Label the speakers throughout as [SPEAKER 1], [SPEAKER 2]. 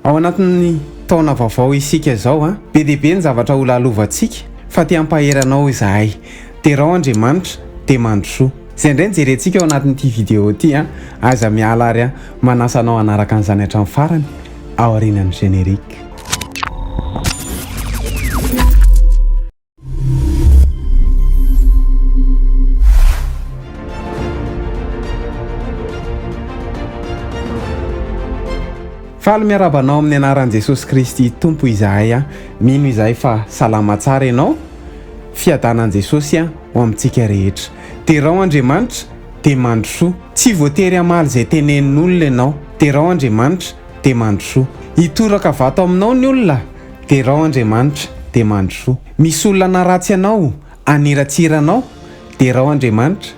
[SPEAKER 1] Ao anatin'ny taona vaovao isika izao an! Be dia be ny zavatra ho lalovantsika fa te hampahery anao izahay. Derao Andriamanitra dia mandrosoa. Izay indray no jerentsika ao anatin'ity video ity an! Aiza miala ary an! Manasa anao hanaraka an'izany hatramin'ny farany aorianan'ny générique. Faly miarahaba anao amin'ny anaran'i Jesosy Kristy Tompo izahay a. Mino izahay fa salama tsara ianao. Fiadanan'i Jesosy a ho amintsika rehetra. Derao Andriamanitra dia mandrosoa. Tsy voatery hamaly izay tenenin'olona ianao. Derao Andriamanitra dia mandrosoa. Hitoraka vato aminao ny olona. Derao Andriamanitra dia mandrosoa. Misy olona hanaratsy anao, haniratsira anao, derao Andriamanitra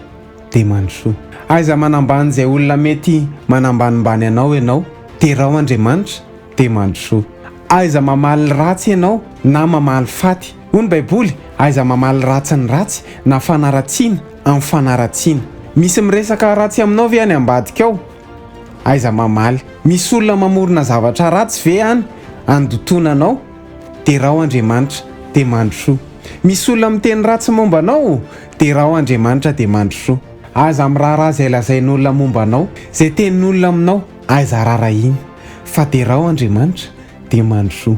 [SPEAKER 1] dia mandrosoa. Aiza manambany izay olona mety manambanimbany anao ianao, derao Andriamanitra dia mandrosoa. Aiza mamaly ratsy ianao na mamaly faty. Hoy ny baiboly, aiza mamaly ratsy ny ratsy na fanaratsiana amin'ny fanaratsiana. Misy miresaka ratsy aminao ve any ambadika ao? Aiza mamaly. Misy olona mamorona zavatra ratsy ve any andotoana anao? Derao Andriamanitra dia mandrosoa. Misy olona miteny ratsy momba anao? Derao Andriamanitra dia mandrosoa. Aza miraharaha izay lazain'olona momba anao, izay tenin'olona aminao, aiza rarahiny. Fa derao Andriamanitra dia mandrosoa.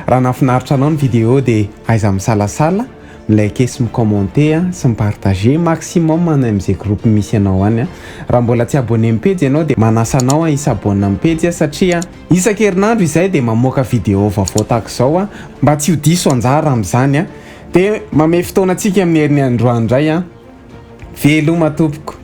[SPEAKER 1] Raha nahafinaritra anao ny video dia aiza misalasala. Liker sy mi-commenter a, sy mi-partager maximum any amin'izay groupe misy anao any a. Raha mbola tsy abonné amin'ny pejy ianao dia manasa anao a hi-s'abonne amin'ny pejy a satria isan-kerinandro izahay dia mamoaka vidéo vaovao tahaka izao a, mba tsy ho diso anjara amin'izany a. Dia mamehy fotoana antsika amin'ny herin'ny androany indray a. Veloma tompoko.